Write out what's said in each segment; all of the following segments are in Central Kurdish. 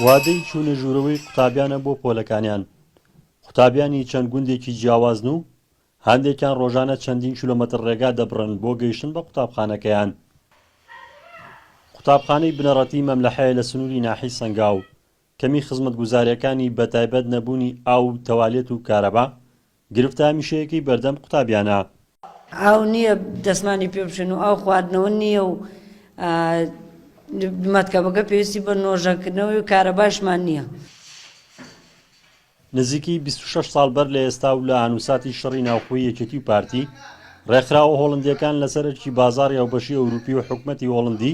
وادەی چوونە ژوورەوەی قوتابیانە بۆ پۆلەکانیان، قوتابیانی چەند گوندێکی جیاوازن و هەندێکیان ڕۆژانە چەندین کیلۆمەتر ڕێگا دەبڕن بۆ گەیشتن بە قوتابخانەکەیان. قوتابخانەی بنەڕەتی مەملەحەیە لە سنووری ناحیەی سەنگاو. کەمی خزمەتگوزاریەکانی بەتایبەت نەبوونی ئاو و تەوالێت و کارەبا گرفتە هەمیشەیەکەی بەردەم قوتابیانە. ئاو نییە دەستمانی پێ بشۆین و ئاو خواردنەوە نییە و مەتکەبەکە پێویستی بە نۆژەنکردنەوەی و کارەباشمان نییە. نزیکی بیست و شەش ساڵ بەر لە ئێستا و لە ئانوساتی شەڕی ناوخۆی یەکێتی و پارتی، ڕێکخراوە هۆڵندیەکان لەسەر ئەرکی بازاڕی هاوبەشی ئەوروپی و حکومەتی هۆڵندی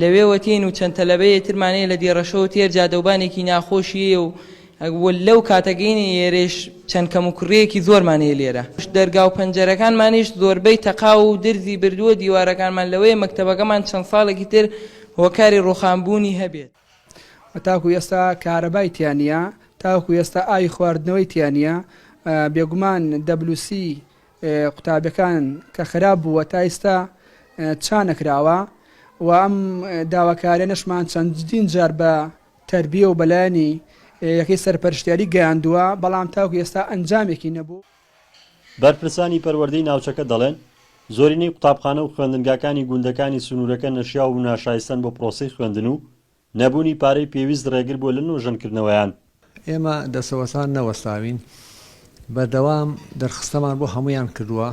لەوێ وەتین و چەند تەلەبەیێ ترمان هەیە لە دێڕەشە و تێر جادە و بانێکی ناخۆشیێە و و لەو کاتە گەینە یێرێش چەند کەم و کوڕیێکی زۆرمان هەیە لێرە. دەرگا و پەنجەرەکانمانیش زۆربەی تەقاو و درزی بردووە، دیوارەکانمان لەوەیە مەکتەبەکەمان چەند ساڵێکی تر هۆکاری ڕووخان بوونی هەبێت. و تاکوو ئێستا کارەبای تیا نییە، تاوەکوو ئێستا ئاوی خواردنەوەی تیا نییە، بێگومان دەبلوسی قوتابیەکان کە خراپ بووە تا ئیستا چا نەکراوە و ئەم داواکارێنەشمان چەندین جار بە تەربیە و بەلایەنی یەکەی سەرپەرشتیاری گەیاندووە بەڵام تاوکو ئێستا ئەنجامێکی نەبوو. بەرپرسانی پەروەردەی ناوچەکە دەڵێن، زۆرینەی قوتابخانە و خوێندنگاکانی گوندەکانی سنوورەکە نەشیاو و ناشایستەن بۆ پرۆسەی خوێندن و نەبوونی پارەی پێویست ڕێگر بووە لە نۆژەنکردنەوەیان. ئێمە دەستەوەستان نەوەستاوین، بەردەوام دەرخستەمان بۆ هەموویان کردووە،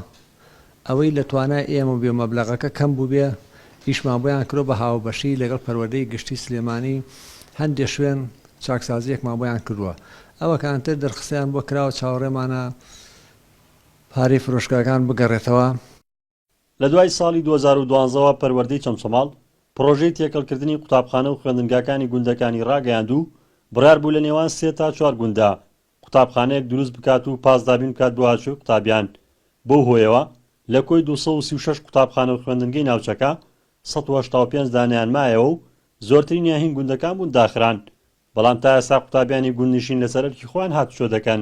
ئەوەی لە توانای ئێمە بووبێ و مەبلەغەکە کەم بووبێ ئیشمان بۆیان کردووە بە هاوبەشی لەگەڵ پەروەردەی گشتی سلێمانی هەندێ شوێن چاکسازییەکمان بۆیان کردووە ئەوەکان تر دەرخستەیان بۆ کراوە چاوەڕێمانە پارەی فرۆشگاکان بگەڕێتەوە. لە دوای ساڵی دوو هەزار و دوازدە وە پەروەردەی چەمچەماڵ پڕۆژەی تێکەڵکردنی قوتابخانە و خوێندنگاکانی گوندەکانی ڕاگەیاند و بڕیار بوو لە نێوان سێ تا چوار گونددا قوتابخانەیەک دروست بکات و پاس دابین بکات بۆ هاتووی قوتابیان بەو هۆیەوە لە کۆی دوو سەد و سی و شەش قوتابخانە و خوێندنگەی ناوچەکە سەد و هەشتا و پێنج دانەیان مایەوە و زۆرترینیان هین گوندەکان بوون داخران بەڵام تا ئێستا قوتابیانی گوندنشین لەسەر ئەرکی خۆیان هاتوچۆ دەکەن.